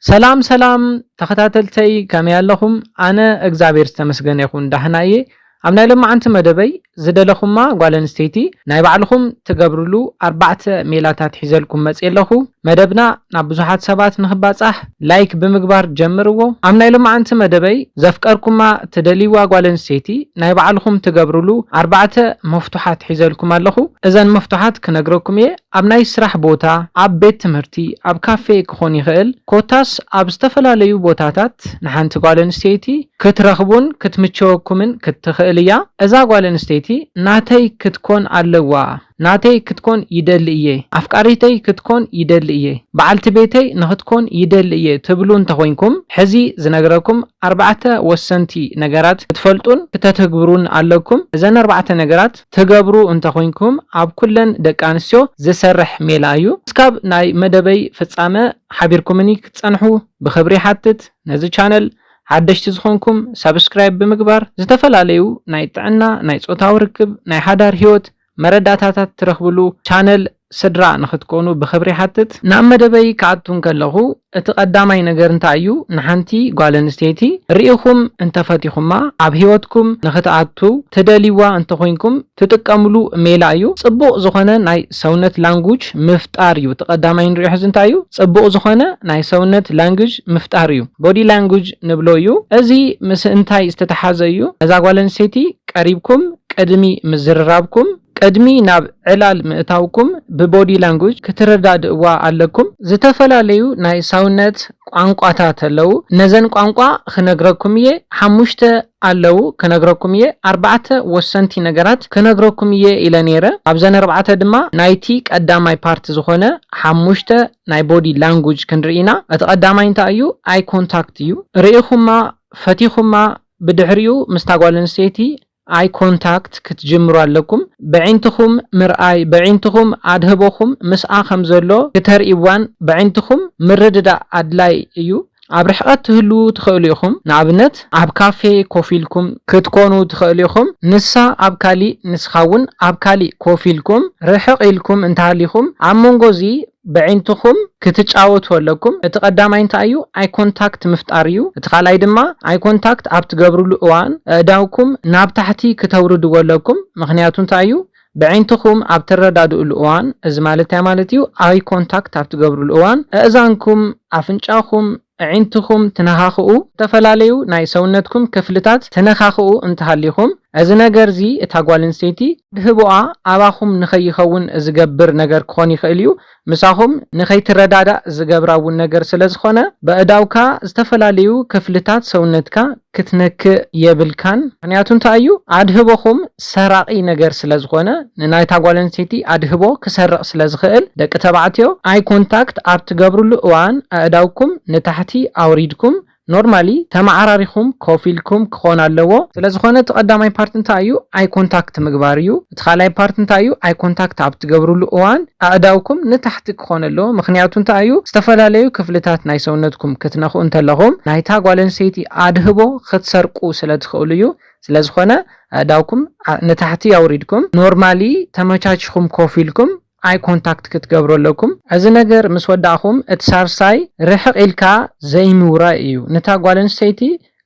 ሰላም ሰላም ተከታተልተይ ከመይ ኣለኹም ኣነ እግዝኣብሔር ዝተመስገነ ይኹን ዳህና እየ ኣብ ናይ ሎማዓንቲ መደበይ ዝደለኹማ ጓል ኣንስተይቲ ናይ ባዕልኹም ትገብርሉ ኣርባዕተ ሜላታት ሒዘልኩም መፅየ ኣለኹ መደብና ናብ ብዙሓት ሰባት ንክባፃሕ ላይክ ብምግባር ጀምርዎ ኣብ ናይ ሎማዓንቲ መደበይ ዘፍቀርኩማ ትደልይዋ ጓል ኣንስተይቲ ናይ ባዕልኹም ትገብርሉ ኣርባዕተ መፍቱሓት ሒዘልኩም ኣለኹ እዘን መፍቱሓት ክነግረኩም እየ ኣብ ናይ ስራሕ ቦታ፣ ኣብ ቤት ትምህርቲ፣ ኣብ ካፌ ክኾን ይኽእል፣ ኮታስ ኣብ ዝተፈላለዩ ቦታታት ንሓንቲ ጓል ኣንስተይቲ ክትረኽቡን ክትምቸወኩምን ክትኽእል እያ። እዛ ጓል ኣንስተይቲ ናተይ ክትኮን ኣለዋ፣ ናተይ ክትኮን ይደሊ እየ፣ ኣፍቃሪተይ ክትኮን ይደሊ እየ፣ በዓልቲ ቤተይ ንኽትኮን ይደሊ እየ ትብሉ እንተኾይንኩም፣ ሕዚ ዝነግረኩም ኣርባዕተ ወሰንቲ ነገራት ክትፈልጡን ክተትግብሩን ኣለኩም። እዘን ኣርባዕተ ነገራት። ትገብሩ እንተኮይንኩም ኣብ ኩለን ደቂ ኣንስትዮ ዝሰርሕ ሜላ እዩ እስካብ ናይ መደበይ ፍጻመ ሓቢርኩምኒ ክትጸንሑ ብክብሪ ይሓትት ነዚ ቻነል ሓደሽቲ ዝኮንኩም ሳብስክራይብ ብምግባር ዝተፈላለዩ ናይ ጥዕና ናይ ጾታዊ ርክብ ናይ ሓዳር ሂወት መረዳታታት ትረክብሉ ቻነል ስድራ ንኽትኮኑ ብኽብሪ ይሓትት። ናብ መደበይ ክኣቱ እንከለኹ እቲ ቀዳማይ ነገር እንታይ እዩ? ንሓንቲ ጓል ኣንስተይቲ ርኢኹም እንተፈቲኹማ ኣብ ህይወትኩም ንኽትኣቱ ትደልይዋ እንተኾይንኩም ትጥቀምሉ ሜላ እዩ ጽቡቕ ዝኾነ ናይ ሰውነት ላንጉጅ ምፍጣር እዩ እቲ ቀዳማይ ንሪኦ ሕዚ እንታይ እዩ? ጽቡቕ ዝኾነ ናይ ሰውነት ላንግጅ ምፍጣር እዩ Body Language ንብሎ እዩ እዚ ምስ እንታይ ዝተተሓዘ እዩ? ነዛ ጓል ኣንስተይቲ ቀሪብኩም ቅድሚ ምዝርራብኩም፣ ቅድሚ ናብ ዕላል ምእታውኩም ብቦዲ ላንጉጅ ክትረዳድእዋ ኣለኩም። ዝተፈላለዩ ናይ ሳውነት ቋንቋታት ኣለው ነዘን ቋንቋ ክነግረኩም እየ ሓሙሽተ ኣለው ክነግረኩም እየ ኣርባዕተ ወሰንቲ ነገራት ክነግረኩም እየ ኢለ ነይረ ኣብዘን ኣርባዕተ ድማ ናይቲ ቀዳማይ ፓርት ዝኾነ ሓሙሽተ ናይ ቦዲ ላንጉጅ ክንርኢ ኢና እቲ ቀዳማይ እንታይ እዩ ኣይ ኮንታክት እዩ ርኢኹማ ፈቲኹማ ብድሕሪኡ ምስታ ጓል ኣንስተይቲ ኣይ ኮንታክት ክትጅምሩ ኣለኩም በዒንትኩም ምርኣይ በዒንትኩም ኣድህቦኩም ምስኣ ከም ዘሎ ክተርእይዋን በዒንትኩም ምርድዳእ ኣድላይ እዩ ኣብ ርሕቀት ትህልዉ ትክእሉ ኢኩም ንኣብነት ኣብ ካፌ ኮፍ ኢልኩም ክትኮኑ ትክእሉ ኢኩም ንሳ ኣብ ካሊእ ንስካ ውን ኣብ ካሊእ ኮፍ ኢልኩም ርሕቅ ኢልኩም እንተሃሊኩም ኣብ መንጎ እዚ በዒንትኹም ክትጫወቱ ኣለኩም እቲ ቀዳማይ እንታይ እዩ ኣይ ኮንታክት ምፍጣር እዩ እቲ ካልኣይ ድማ ኣይ ኮንታክት ኣብ ትገብርሉ እዋን ኣእዳውኩም ናብ ታሕቲ ክተውርድዎ ኣለኩም ምኽንያቱ እንታይ እዩ በዒንትኹም ኣብ ትረዳድእሉ እዋን እዚ ማለት እንታይ ማለት እዩ ኣይ ኮንታክት ኣብ ትገብርሉ እዋን ኣእዛንኩም ኣፍንጫኹም ኣዒንትኹም ትነኻኽኡ፣ ዝተፈላለዩ ናይ ሰውነትኩም ክፍልታት ትነኻኽኡ እንተሃሊኹም፣ እዚ ነገር'ዚ እታ ጓለንስተይቲ ኣድህቦኣ ኣባኹም ንኸይኸውን ዝገብር ነገር ክኾን ይኽእል እዩ። ምሳኹም ንኸይትረዳዳእ ዝገብራ'ውን ነገር ስለዝኾነ፣ በእዳውካ ዝተፈላለዩ ክፍልታት ሰውነትካ ክትነክእ የብልካን ምክንያቱ እንታይ እዩ ኣድህቦኹም ሰራቂ ነገር ስለ ዝኾነ ንናይታ ጓል ኣንስተይቲ ኣድህቦ ክሰርቅ ስለ ዝኽእል ደቂ ተባዕትዮ ኣይ ኮንታክት ኣብ ትገብርሉ እዋን ኣእዳውኩም ንታሕቲ ኣውሪድኩም ኖርማሊ ተማዓራሪኹም ኮፍ ኢልኩም ክኾን ኣለዎ ስለ ዝኾነ እቲ ቀዳማይ ፓርት እንታይ እዩ ኣይ ኮንታክት ምግባር እዩ። እቲ ካልኣይ ፓርት እንታይ እዩ ኣይ ኮንታክት ኣብ ትገብርሉ እዋን ኣእዳውኩም ንታሕቲ ክኾን ኣለዎ ምኽንያቱ እንታይ እዩ ዝተፈላለዩ ክፍልታት ናይ ሰውነትኩም ክትነኽኡ እንተለኹም ናይታ ጓል ኣንስተይቲ ኣድህቦ ክትሰርቁ ስለ ትኽእሉ እዩ ስለዝኾነ ኣእዳውኩም ንታሕቲ ኣውሪድኩም ኖርማሊ ተመቻቺኹም ኮፍ ኢልኩም ኣይ ኮንታክት ክትገብሩ ኣለኩም እዚ ነገር ምስ ወዳእኩም እቲ ሳርሳይ ርሕቅ ኢልካ ዘይምውራይ እዩ ንታ ጓል ኣንስተይቲ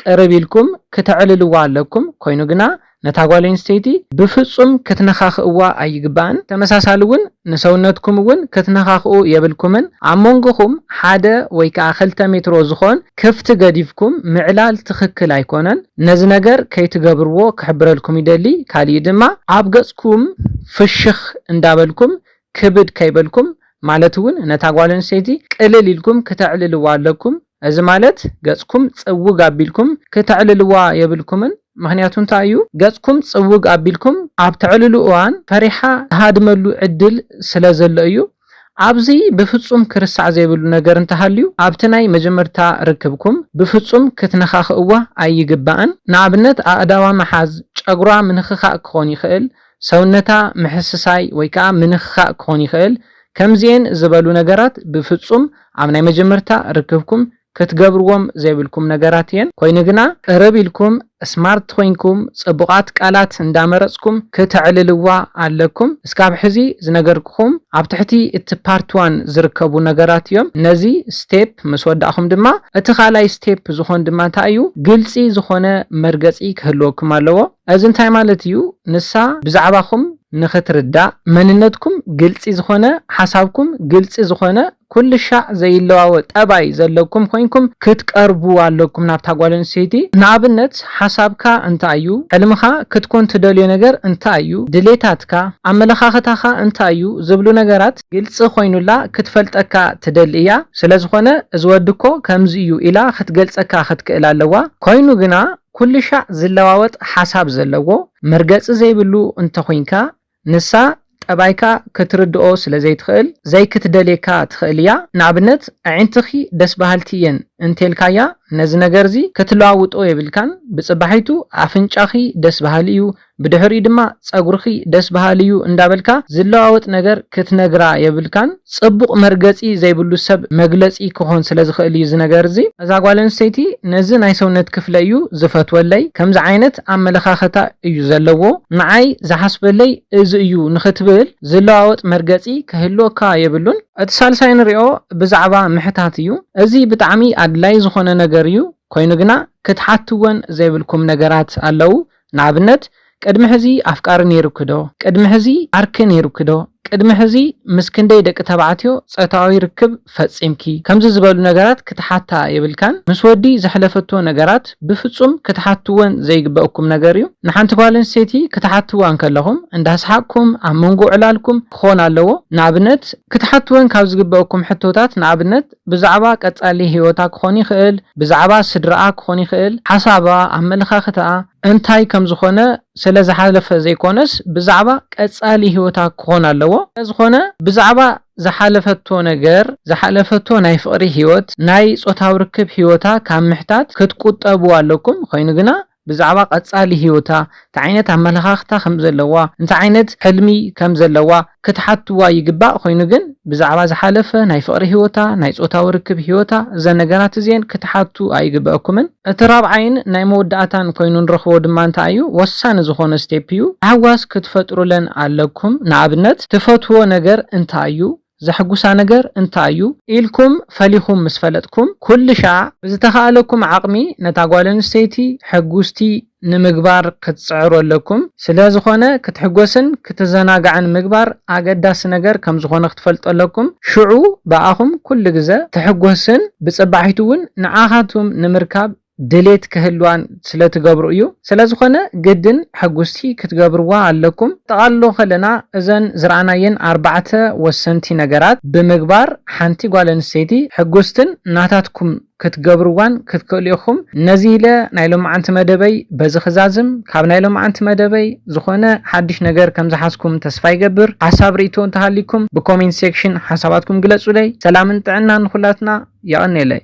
ቅርብ ኢልኩም ክተዕልልዋ ኣለኩም ኮይኑ ግና ነታ ጓል ኣንስተይቲ ብፍጹም ክትነካክእዋ ኣይግባእን ተመሳሳሊ ውን ንሰውነትኩም ውን ክትነካክኡ የብልኩምን ኣብ ሞንጎኩም ሓደ ወይ ከኣ ክልተ ሜትሮ ዝኮን ክፍቲ ገዲፍኩም ምዕላል ትክክል ኣይኮነን ነዚ ነገር ከይትገብርዎ ክሕብረልኩም ይደሊ ካሊእ ድማ ኣብ ኢልኩም ፍሽኽ እንዳበልኩም ክብድ ከይበልኩም ማለት እውን ነታ ጓል ኣንስተይቲ ቅልል ኢልኩም ክተዕልልዋ ኣለኩም እዚ ማለት ገጽኩም ጽውግ ኣቢልኩም ክተዕልልዋ የብልኩምን ምኽንያቱ እንታይ እዩ ገጽኩም ጽውግ ኣቢልኩም ኣብ ተዕልሉ እዋን ፈሪሓ ትሃድመሉ ዕድል ስለ ዘሎ እዩ። ኣብዚ ብፍጹም ክርሳዕ ዘይብሉ ነገር እንተሃልዩ ኣብቲ ናይ መጀመርታ ርክብኩም ብፍጹም ክትነኻኽእዋ ኣይግባእን። ንኣብነት ኣእዳዋ ምሓዝ፣ ጨጉራ ምንኽኻእ ክኾን ይኽእል፣ ሰውነታ ምሕስሳይ ወይ ከኣ ምንኽኻእ ክኾን ይኽእል፣ ከምዚኤን ዝበሉ ነገራት ብፍጹም ኣብ ናይ መጀመርታ ርክብኩም ክትገብርዎም ዘይብልኩም ነገራት እየን ኮይኑ ግና ቅርብ ኢልኩም ስማርት ኮይንኩም ጽቡቃት ቃላት እንዳመረጽኩም ክተዕልልዋ ኣለኩም እስካብ ሕዚ ዝነገርኩኹም ኣብ ትሕቲ እቲ ፓርት ዋን ዝርከቡ ነገራት እዮም ነዚ ስቴፕ ምስ ወዳእኹም ድማ እቲ ካልኣይ ስቴፕ ዝኾን ድማ እንታይ እዩ ግልጺ ዝኾነ መርገጺ ክህልወኩም ኣለዎ እዚ እንታይ ማለት እዩ ንሳ ብዛዕባኹም ንኽትርዳእ መንነትኩም ግልጺ ዝኾነ ሓሳብኩም ግልጺ ዝኾነ ኩልሻዕ ዘይለዋወጥ ጠባይ ዘለኩም ኮይንኩም ክትቀርቡ ኣለኩም ናብታ ጓል ኣንስተይቲ ንኣብነት ሓሳብካ እንታይ እዩ ሕልምካ ክትኮን ትደልዮ ነገር እንታይ እዩ ድሌታትካ ኣመለኻኽታካ እንታይ እዩ ዝብሉ ነገራት ግልጺ ኮይኑላ ክትፈልጠካ ትደሊ እያ ስለዝኮነ እዚ ወዲ እኮ ከምዚ እዩ ኢላ ክትገልጸካ ክትክእል ኣለዋ ኮይኑ ግና ኩልሻዕ ዝለዋወጥ ሓሳብ ዘለዎ መርገጺ ዘይብሉ እንተኩንካ ንሳ ጠባይካ ክትርድኦ ስለ ዘይትኽእል ዘይክትደልየካ ትኽእል እያ። ንኣብነት ኣዒንትኺ ደስ በሃልቲ እየን እንተልካያ ነዚ ነገርዚ ክትለዋውጦ የብልካን። ብጽባሒቱ ኣፍንጫኺ ደስ በሃሊ እዩ ብድሕሪኡ ድማ ጸጉርኺ ደስ በሃሊ እዩ እንዳበልካ ዝለዋወጥ ነገር ክትነግራ የብልካን። ጽቡቕ መርገጺ ዘይብሉ ሰብ መግለጺ ክኾን ስለ ዝኽእል እዩ እዚ ነገር እዚ። እዛ ጓል ኣንስተይቲ ነዚ ናይ ሰውነት ክፍለይ እዩ ዝፈትወለይ ከምዚ ዓይነት ኣመለኻኽታ እዩ ዘለዎ ንዓይ ዝሓስበለይ እዚ እዩ ንኽትብል ዝለዋወጥ መርገጺ ክህልወካ የብሉን። እቲ ሳልሳይ ንሪኦ ብዛዕባ ምሕታት እዩ። እዚ ብጣዕሚ ኣድላይ ዝኾነ ነገር እዩ ኮይኑ ግና ክትሓትወን ዘይብልኩም ነገራት ኣለዉ ንኣብነት ቅድሚ ሕዚ ኣፍቃሪ ነይሩኪ ዶ? ቅድሚ ሕዚ ዓርኪ ነይሩኪ ዶ? ቅድሚ ሕዚ ምስ ክንደይ ደቂ ተባዕትዮ ጾታዊ ርክብ ፈጺምኪ? ከምዚ ዝበሉ ነገራት ክትሓታ የብልካን። ምስ ወዲ ዘሕለፈቶ ነገራት ብፍጹም ክትሓትወን ዘይግበእኩም ነገር እዩ። ንሓንቲ ጓል ኣንስተይቲ ክትሓትዋ እንከለኹም እንዳስሓቅኩም ኣብ መንጎ ዕላልኩም ክኾን ኣለዎ። ንኣብነት ክትሓትወን ካብ ዝግበእኩም ሕቶታት ንኣብነት ብዛዕባ ቀጻሊ ህይወታ ክኾን ይኽእል፣ ብዛዕባ ስድራኣ ክኾን ይኽእል፣ ሓሳባ፣ ኣመለኻኽታኣ እንታይ ከም ዝኾነ ስለ ዝሓለፈ ዘይኮነስ ብዛዕባ ቀጻሊ ህይወታ ክኾን ኣለዎ። ስለዝኾነ ብዛዕባ ዝሓለፈቶ ነገር፣ ዝሓለፈቶ ናይ ፍቕሪ ህይወት፣ ናይ ጾታዊ ርክብ ህይወታ ካብ ምሕታት ክትቁጠቡ ኣለኩም፣ ኮይኑ ግና ብዛዕባ ቀጻሊ ህይወታ፣ እንታይ ዓይነት ኣመለኻኽታ ከም ዘለዋ፣ እንታይ ዓይነት ሕልሚ ከም ዘለዋ ክትሓትዋ ይግባእ፣ ኮይኑ ግን ብዛዕባ ዝሓለፈ ናይ ፍቕሪ ህይወታ፣ ናይ ጾታዊ ርክብ ህይወታ፣ እዘን ነገራት እዚኤን ክትሓቱ ኣይግበኣኩምን። እቲ ራብዓይን ናይ መወዳእታን ኮይኑ ንረኽቦ ድማ እንታይ እዩ፣ ወሳኒ ዝኾነ ስቴፕ እዩ፣ ታሕጓስ ክትፈጥሩለን ኣለኩም፣ ንኣብነት ትፈትዎ ነገር እንታይ እዩ፣ ዘሕጉሳ ነገር እንታይ እዩ? ኢልኩም ፈሊኹም ምስ ፈለጥኩም፣ ኩልሻዕ ብዝተኻእለኩም ዓቕሚ ነታ ጓል ኣንስተይቲ ሕጉስቲ ንምግባር ክትጽዕሩ ኣለኩም። ስለ ዝኾነ ክትሕጎስን ክትዘናጋዕን ምግባር ኣገዳሲ ነገር ከም ዝኾነ ክትፈልጡ ኣለኩም። ሽዑ ብኣኹም ኩሉ ግዘ ትሕጎስን ብጽባሒቱ እውን ንዓኻትኩም ንምርካብ ድሌት ክህልዋን ስለ ትገብሩ እዩ። ስለ ዝኾነ ግድን ሕጉስቲ ክትገብርዋ ኣለኩም። ጠቓልሎ ከለና እዘን ዝረኣናየን ኣርባዕተ ወሰንቲ ነገራት ብምግባር ሓንቲ ጓል ኣንስተይቲ ሕጉስትን ናታትኩም ክትገብርዋን ክትክእሉ ኢኹም። ነዚ ኢለ ናይ ሎምዓንቲ መደበይ በዚ ክዛዝም። ካብ ናይ ሎምዓንቲ መደበይ ዝኾነ ሓድሽ ነገር ከም ዝሓዝኩም ተስፋ ይገብር። ሓሳብ ርኢቶ እንተሃልይኩም ብኮሜንት ሴክሽን ሓሳባትኩም ግለጹለይ። ሰላምን ጥዕናን ንኹላትና። የቐኔለይ።